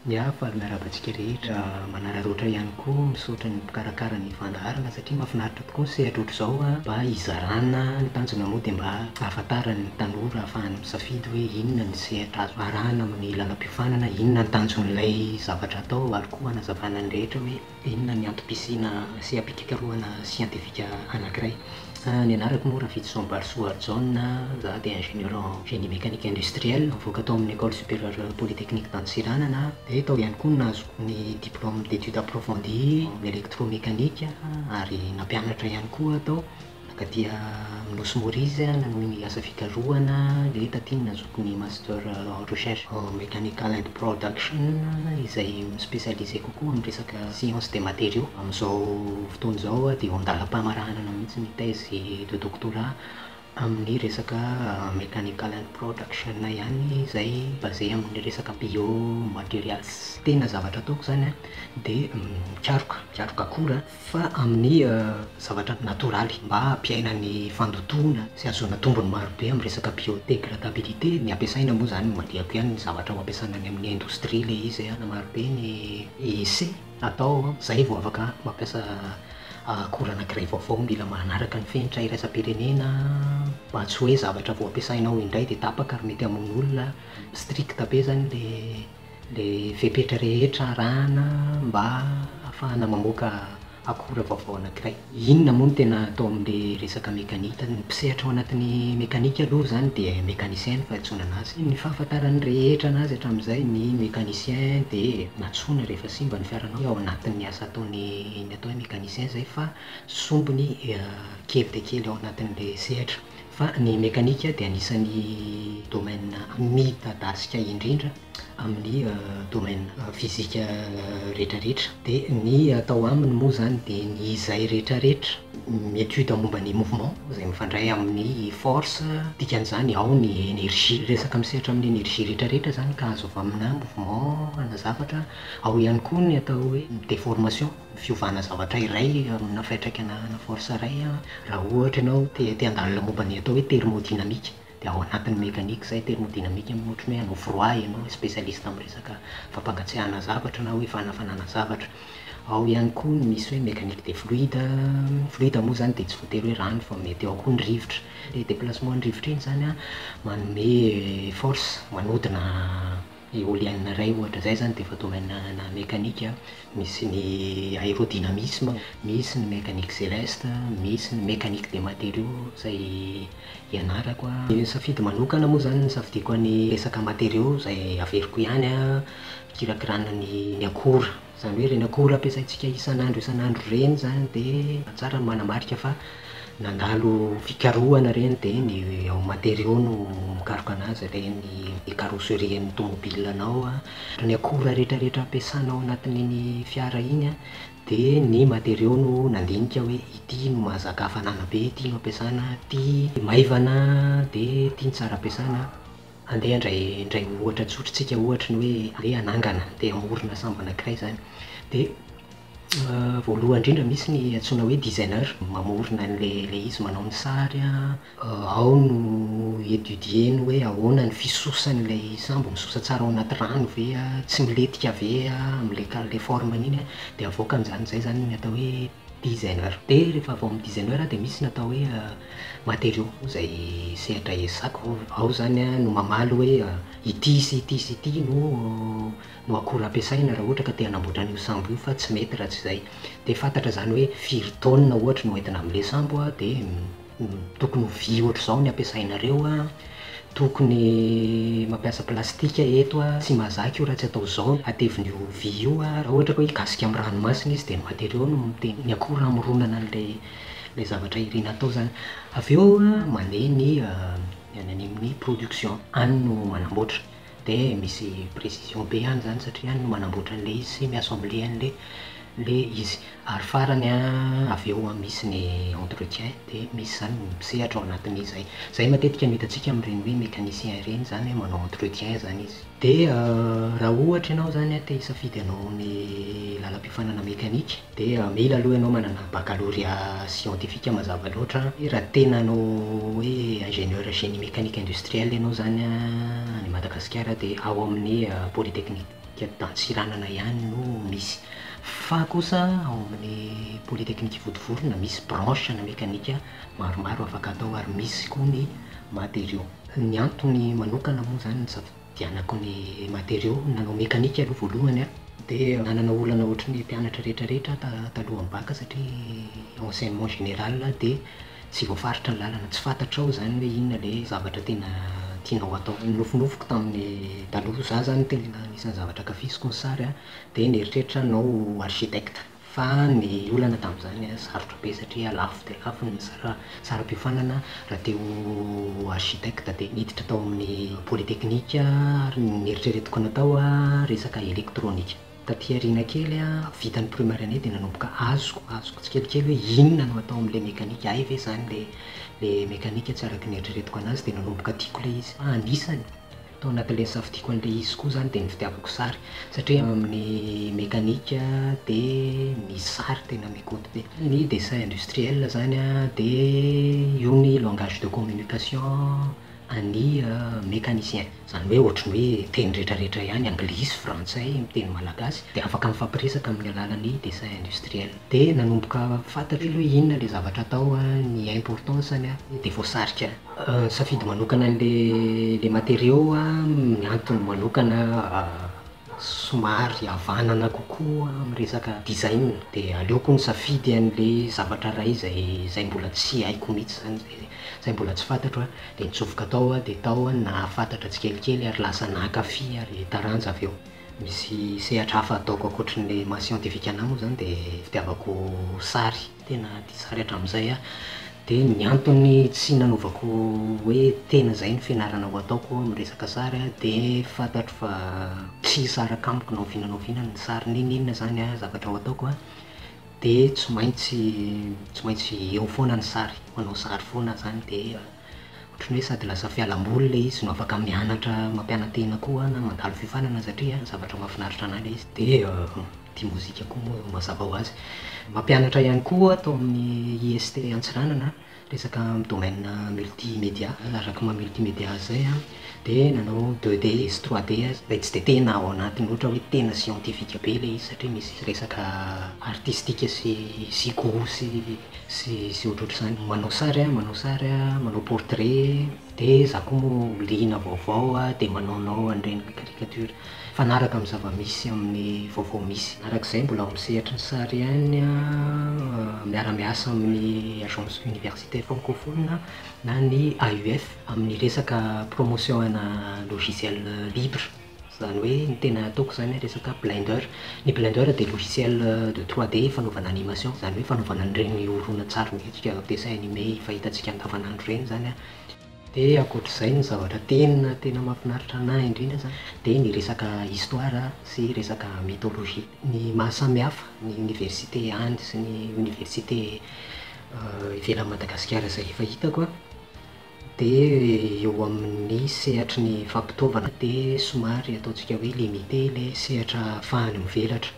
Ny hafa ary miarahaba antsika rehetra manararaotra ihany koa misaotra ny mpikarakara ny fandaharana satria mahafinaritra tokoa ny sehatra ohatr'izao mba hizarana ny tanjona moa dia mba hahafantaran'ny tanora hahafahany misafidy hoe inona ny sehatra azo arahana amin'ny lalam-piofanana inona ny tanjon'ilay zavatra atao ary koa hanazavana ny rehetra hoe Inona ny antom-pisiana seha-pikakarohana siantifika anankiray? Ny anarako moa Rafidison Balisoa Harijaona, za dia ingénieur en génie mécanique industriel, nivoaka tao amin'ny Ecole Supérieure Polytechnique d'Antsiranana, dia tao ihany koa no nahazoko ny diplôme d'études approfondies en électromécanique ary nampianatra ihany koa aho tao. Ka dia amin'ny Nosy Maurice aho nanohy ny asa fikarohana dia taty no nazoako ny Master en Recherche en Mechanical and Production izay mi-specialiser kokoa amin'ny resaka Sciences des Matériaux. Amin'izao fotoana izao aho dia eo an-dalam-pamaranana mihitsy ny thèse de doctorat amin'ny resaka Mechanical and Production ihany izay basé amin'ny resaka Bio-Materials. Tena zavatra ataoko izany dia mikaroka, mikaroka akora. fa amin'ny zavatra natoraly mba hampiaina ny fandotoana sy hahazoana tombony maro be amin'ny resaka biodegradabilité, ny ampiasaina moa izany no mandihako ihany ny zavatra ho ampiasana any amin'ny indostria ilay izy e, na maro be ny essai atao izay vao afaka mampiasa akora anankiray vaovao, mila manaraka ny fenitra iraisam-pirenena mba tsy hoe zavatra vao ampiasainao indray dia tapaka ary mety hamono olona, strict be izany ilay. ilay fepetra rehetra arahana mba hahafahana mamoaka akora vaovao anankiray. Inona moa no tena atao amin'ilay resaka mekanika? Ny mpisehatra ao anatin'ny mekanika aloha izany dia mécanicien no fahadisoanana azy. Ny fahafantaran'ny rehetra anazy hatramin'izay, ny mécanicien dia antsoina rehefa simba ny fiaranao dia ao anatin'ny asa ataony ny atao hoe mécanicien izay fa sombiny kely dia kely ao anatin'ilay sehatra. fa ny mekanika dia anisan'ny domaine midadasika indrindra amin'ny domaine fizika rehetrarehetra, dia ny atao aminy moa izany dia ny izay rehetrarehetra mi-étude momba ny mouvement izay mifandray amin'ny force, dikan'izany ao ny énergie, resaka misehatra amin'ny énergie rehetrarehetra izany ka azo avy amina mouvement ana zavatra, ao ihany koa ny atao hoe déformation. fiovana zavatra iray amina fiantraikana ana force iray raha ohatra ianao te te handalina momba ny atao hoe thermodynamique dia ao anatin'ny mécanique izay thermodynamique amin'iny ohatra hoe hanao froid ianao spécialiste amin'ny resaka fampangatsiahana zavatra na hoe fanafanana zavatra ao ihany koa ny misy hoe mécanique des fluides an, fluide moa izany dia tsy voatery hoe rano fa mety ao koa ny rivotra, ilay déplacement ny rivotra iny izany an manome force manodina Eolienne iray ohatra izay izany dia efa domaine ana mécanique a, misy ny aérodynamisme, misy ny mécanique céleste, misy ny mécanique des matériaux izay ianarako a. Ny safidy manokana moa izany nisafidiako ny resaka matériaux izay averiko ihany a, fikirakirana ny ny akora. Izany hoe ireny akora ampiasaintsika isan'andro isan'andro ireny izany dia tsara ny manamarika fa nandalo fikarohana ireny dia ny ao matériaux no mikaroka anazy ilay ny carrosserie an'ny tomobilanao an, ary ny akora rehetrarehetra ampiasanao ao anatin'iny fiara iny an, dia ny matériaux no nandinika hoe ity no mahazaka hafanana be, ity no ampiasana, ity maivana dia ity no tsara ampiasana. Andeha handray indray ohatra tsotra tsika ohatra ny hoe andeha hanangana andeha hamorona sambo anakiray izany dia voalohany indrindra misy ny antsoina hoe designer mamorona an'ilay izy manao ny sary an, ao no étudier-ny hoe ahoana ny fisosan'ilay sambo, misosa tsara ao anaty rano ve an, tsy milentika ve an, amin'ilay forme-ny iny an, dia avoakany izany, izay izany ny atao hoe Designer Dia rehefa avy ao amin'ny designer aho dia misy ny atao hoe matériaux izay sehatra ezahako, ao izany no mamaly hoe ity sy ity sy ity no no akora ampiasaina raha ohatra ka te hanamboatra an'io sambo io fa tsy mety raha tsy izay. Dia fantatra izany hoe firy taonina ohatra no entina amin'ilay sambo dia. Tokony ho vy ohatr'izao ny ampiasainareo a, tokony mampiasa plastika eto a, tsy mahazaka io raha tsy atao izao, hatevina io vy io a, raha ohatra ka hoe higasika amin'ny ranomasina izy dia ny matériaux no miteny ny akora hamoronana an'ilay zavatra irina atao izany. Avy eo mandeha ny any amin'ny production, any no manamboatra. Dia misy précision be any zany satria any no manamboatra an'ilay izy sy mi-assembler an'ilay ilay izy. Ary farany an, avy eo an, misy ny entretien dia misy zany ny mpisehatra ao anatin'izay. Izay matetika no hitantsika amin'ireny hoe mécanicien ireny zany hoe manao entretien zany izy. Dia raha ohatra ianao zany an te hisafidy hanao ny lalam-piofanana mécanique, Dia mila aloha ianao manana baccalauréat scientifique mazava loatra an, raha tena hanao hoe ingénieur génie mécanique industriel ianao izany an, any Madagasikara dia ao amin'ny polytechnique d'Antsiranana ihany no misy. Fa kosa ao amin'ny polytechnique Vontovorona misy branche ana mécanique maromaro afaka atao ary misy koa ny matériaux. Ny antony manokana moa izany no tsy afa-. Dianako ny matériaux nanao mécanique aloha voalohany an! Dia nanana olana ohatry ny mpianatra rehetra rehetra aho talohan'ny bac satria enseignement général dia tsy voafaritra ny lalana, tsy fantatrao izany hoe inona ilay zavatra tena tianao hatao. Ny nofinofiko tamin'ny taloha, za zany tena anisan'ny zavatra ankafiziko ny sary an! dia nieritreritra hanao architecte. Fa ny olana tamin'izany, sarotra be satria lafo dia lafo ny saram-piofanana. Raha te ho architecte dia niditra tao amin'ny polytechnique ary ny neritreretiko natao resaka elektronika. Taty aoriana kely, vita ny primaire-nay dia nanomboka azoko azoko tsikelikely hoe inona no atao amin'ilay mekanika, hay ve izany ilay mekanika tsy araka ny neritreretiko an'azy dia nanomboka tiako ilay izy fa anisany. Tao anatin'ilay nisafidiako an'ilay izy koa izany dia ny fitiavako sary satria eo amin'ny mekanika dia ny sary tena mi-compte be. Ny dessin industriel izany dia io ny langage de communication an'ny mecanicien. Izany hoe ohatran'ny hoe teny rehetrarehetra ihany, anglisy, frantsay, miteny malagasy dia afaka mifampiresaka amin'ny alalan'ny dessin industriel. Dia nanomboka fantatro aloha inona ilay zavatra atao, ny importance-ny dia voasarika. Nisafidy manokana le materiaux ny antony manokana somary havanana kokoa amin'ny resaka design dia aleoko misafidy an'le zavatra iray izay mbola tsy haiko mihintsy zany zay, izay mbola tsy fantatro dia nitsofoka tao aho dia tao aho no nahafantatra tsikelikely ary lasa nankafy ary taranja avy eo. Misy sehatra hafa ataoko ankoatran'le maha scientifique anahy moa zany dia fitiavako sary, tena tia sary hatramin'izay aho, Dia ny antony tsy nanaovako hoe tena izay no fianarana ho ataoko amin'ny resaka sary dia fantatro fa tsy hisaraka amiko na oviana na oviana ny sary n'inon'inona izany zavatra ho ataoko dia tsy maintsy tsy maintsy eo foana ny sary, manao sary foana aho izany dia ohatran'ny hoe sady lasa fialamboly ilay izy no afaka mianatra mampiana-tena koa na mandalo fiofanana satria zavatra mahafinaritra anà ilay izy dia tia mozika koa moa mazava ho azy. Mampianatra ihany koa tao amin'ny IST Antsiranana resaka amin'ny domaine multimédia, araka ny maha multimédia azy izay an, dia nanao deux D sy trois D aza, izay tsy dia tena ao anatiny ohatra hoe tena scientifique be ilay izy satria misy resaka artistique sy sy gout sy sy ohatrohatr'izany, manao sary an, manao sary an, manao portrait. Dia za koa moa liana vaovao dia manaonao an'ireny caricature mifanaraka amin'ny zava-misy amin'ny vaovao misy. Araka izay mbola ao amin'ny sehatry ny sary ihany miara-miasa amin'ny agence universitaire francophone na ny AUF amin'ny resaka promotion ana logiciel libre. Izany hoe ny tena ataoko izany resaka Blender. Ny Blender dia logiciel de 3D fanaovana animation, izany hoe fanaovana an'ireny horonantsary miendrika dessin animé efa hitantsika andavanandro ireny izany. Dia ankoatr'izay ny zavatra tena tena mahafinaritra an'ahy indrindra izany dia ny resaka histoire sy resaka mythologie. Ny maha samihafa ny université any sy ny université ivelan'i Madagasikara izay efa hitako an, Dia eo amin'ny sehatry ny fampitaovana dia somary ataontsika hoe limité ilay sehatra ahafahany mivelatra.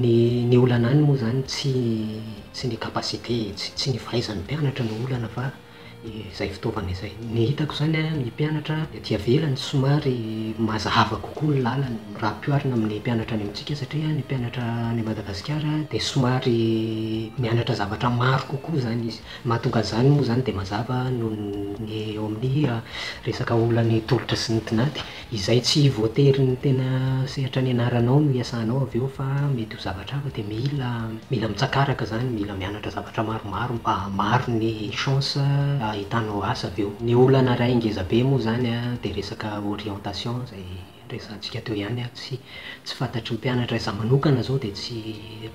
Ny ny olana any moa izany tsy tsy ny capacité, tsy tsy ny fahaizan'ny mpianatra no olana fa izay fitaovana izay. Ny hitako izany an, ny mpianatra ety avelany somary mazava kokoa ny lalany raha ampihoarina amin'ny mpianatra any amintsika satria ny mpianatra any Madagasikara dia somary mianatra zavatra maro kokoa izany izy. Mahatonga an'izany moa izany dia mazava noho ny eo amin'ny resaka olan'ny tolotra sy ny tinady. Izay tsy voatery ny tena sehatra nianaranao no iasanao avy eo fa mety ho zavatra hafa dia mila mila mitsakaraka izany, mila mianatra zavatra maromaro mba hahamaro ny chance hahitanao asa avy eo. Ny olana iray ngezabe moa izany dia resaka orientation izay. resahantsika teo ihany ary tsy tsy fantatry ny mpianatra za manokana zao de tsy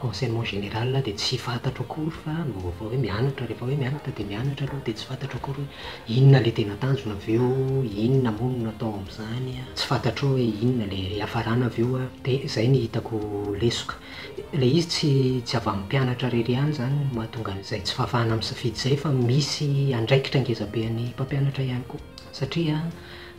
enseignement général de tsy fantatro akory fa ny vaovao hoe mianatra refa hoe mianatra de mianatra aloha de tsy fantatro akory hoe inona le tena tanjona avy eo inona moa no atao amzany a tsy fantatro hoe inona le hiafarana avy eo a de zay ny hitako lesoka le izy tsy tsy avy aminy mpianatra rery ihany zany no mahatonga anzay tsy fahafahana misafidy zay fa misy andraikitra ngezabe any mpampianatra ihany koa satria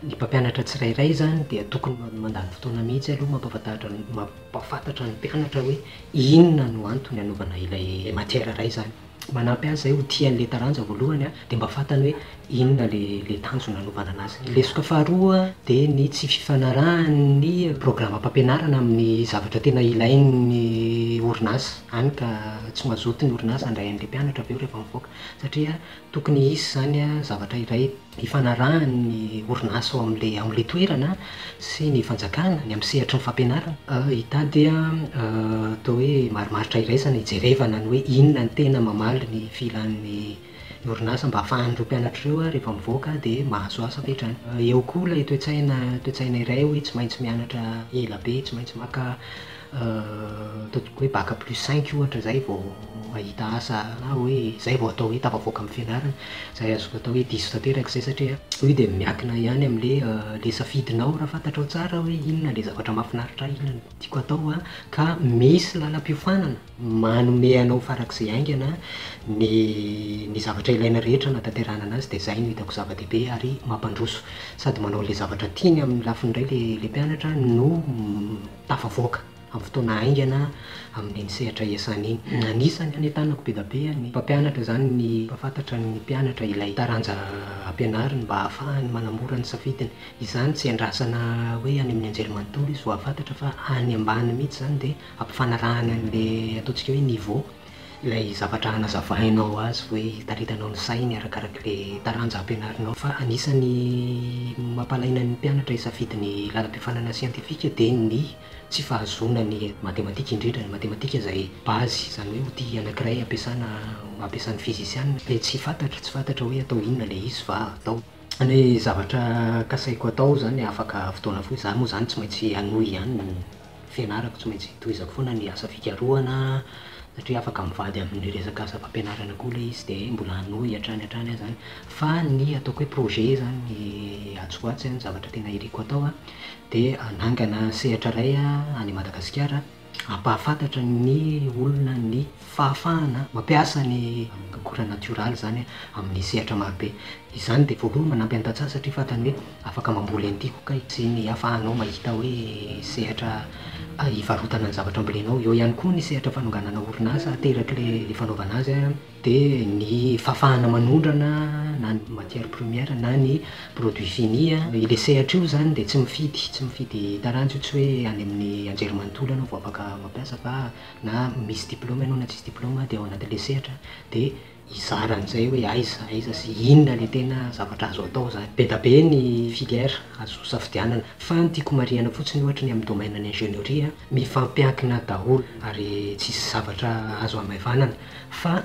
Ny mpampianatra tsirairay izany dia tokony mandany fotoana mihitsy aloha mampahafantatra ny mpianatra hoe inona no antony anaovana ilay matière iray izany. Manampy azy izay ho tia an'ilay taranja voalohany dia mba fantany hoe inona ilay tanjona anaovana anazy. Ny lesoka faharoa dia ny tsy fifanarahan'ny programam-pampianarana amin'ny zavatra tena ilain'ny orinasa, hany ka tsy mazoto ny orinasa handray an'ilay mpianatra avy eo rehefa mivoaka satria tokony hisy izany zavatra iray ifanarahany ny orinasa ao amin'ilay ao amin'ilay toerana sy ny fanjakana, ny amin'ny sehatry ny fampianarana. Hitady atao hoe marimaritra iraisana hijerevana ny hoe inona no tena mamaly ny filan'ny orinasa mba ahafahan'ireo mpianatra ireo rehefa mivoaka dia mahazo asa avy hatrany. Eo koa ilay toe-tsaina, toe-tsaina iray hoe tsy maintsy mianatra ela be, tsy maintsy maka Ataontsika hoe bac plus cinq ohatra zay vao mahita asa na hoe zay vao atao hoe tafavoaka amin'ny fianarana. Zay azoko atao hoe diso tanteraka zay satria io dia miankina ihany amin'le le safidinao raha fantatrao tsara hoe inona le zavatra mahafinaritra ahy, inona no tiako atao an, ka misy lalam-piofanana manome anao farak'izay haingana ny ny zavatra ilaina rehetra hanatanterahana anazy dia zay no hitako zava-dehibe ary mampandroso sady manao le zavatra tiany amin'ny lafiny iray le le mpianatra no tafavoaka amin'ny fotoana haingana amin'iny sehatra iasana iny. Anisan'ny hanentanako be dia be ny mpampianatra izany ny hampahafantatra ny mpianatra ilay taranja ampianariny mba hahafahany manamora ny safidiny. Izany tsy iandrasana hoe any amin'ny anjely manontolo izy vao hahafantatra fa any ambany mihitsy izany dia ampifanarahana an'ilay ataontsika hoe niveau. Ilay zavatra hanazavainao azy hoe hitaritanao ny sainy arakaraka ilay taranja ampianarinao. Fa anisan'ny mampalaina ny mpianatra hisafidy ny lalam-piofanana siantifika dia ny tsy fahazoana ny matematika, indrindra ny matematika izay base, izany hoe outil anankiray ampiasana ampiasan'ny fizisianina dia tsy fantatro, tsy fantatra hoe atao inona ilay izy fa atao. Ny zavatra kasaiko atao izany afaka fotoana fohy, izaho moa izany tsy maintsy hanohy ihany ny fianarako tsy maintsy tohizako foana ny asa fikarohana satria afaka mivady amin'ny resaka asa fampianarana koa ilay izy dia mbola hanohy hatrany hatrany aza an, fa ny ataoko hoe projet izany ny atsy ho atsy an, ny zavatra tena iriko hatao an, dia hanangana sehatra iray any Madagasikara hampahafantatra ny olona ny fahafahana mampiasa ny akora natioraly izany amin'ny sehatra marobe. Izany dia voalohany manampy an'i Tantsaha satria fantany hoe afaka mamboly an'ity koa kay. Sy ny ahafahanao mahita hoe sehatra hivarotana ny zavatra ambolenao. Eo ihany koa ny sehatra fanonganana orinasa ateraky ilay fanaovana azy an. Dia ny fahafahana manondrana na ny matière première na ny produit fini an. Ilay sehatra io izany dia tsy mifidy, tsy mifidy taranja io, tsy hoe any amin'ny anjerimanontolo ianao vao afaka mampiasa fa na misy diplaoma ianao na tsisy diplaoma dia ao anatin'ilay sehatra dia hizara an'izay hoe aiza aiza sy inona ilay tena zavatra azo atao izany. Be dia be ny filière azo safidianana fa ny tiako marihina fotsiny ohatra ny amin'ny domaine ny ingénierie mifampiankina daholo ary tsisy zavatra azo hamaivanana fa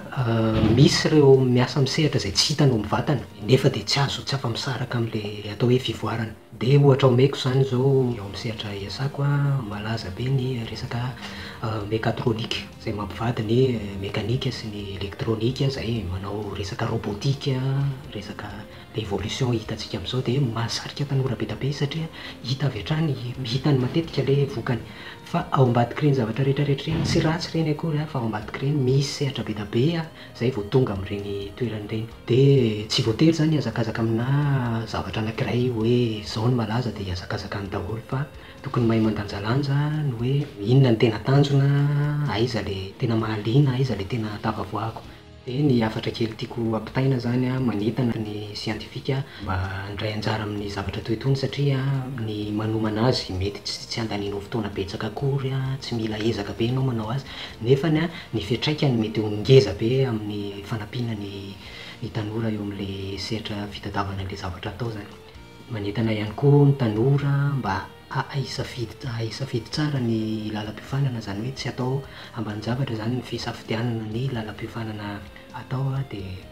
misy ireo miasa amin'ny sehatra izay tsy hitanao mivantana nefa dia tsy azo tsy afa-misaraka amin'ilay atao hoe fivoarana. Dia ohatra omeko izany izao ao amin'ny sehatra iasako, malaza be ny resaka mecatronique, izay mampivady ny mekanika sy ny elektronika, izay manao resaka robotique, resaka evolution hitantsika amin'izao dia mahasarika tanora be dia be izy satria hita avy hatrany, hitany matetika ilay vokany. Fa ao ambadik'ireny zavatra rehetra rehetra ireny, tsy ratsy ireny akory fa ao ambadik'ireny misy sehatra be dia be. izay vao tonga amin'ireny toerana ireny. Dia tsy voatery izany hihazakazaka aminà zavatra anankiray hoe izao no malaza dia hihazakazaka any daholo fa tokony mahay mandanjalanja ny hoe inona no tena tanjona, aiza ilay tena mahaliana, aiza ilay tena tafavoahako. Dia ny hafatra kely tiako hampitaina izany manentana ny siantifika mba handray anjara amin'ny zavatra toy itony satria ny manomana azy mety tsy handanianao fotoana betsaka akory, tsy mila ezaka be ianao manao azy nefa ny fiantraikany mety ho ngeza be amin'ny fanampiana ny ny tanora eo amin'ilay sehatra fitadiavana an'ilay zavatra hatao izany. Manentana ihany koa ny tanora mba hahay hisafidy hahay hisafidy tsara ny lalam-piofanana izany hoe tsy atao ambanin-javatra izany ny fisafidianana ny lalam-piofanana atao dia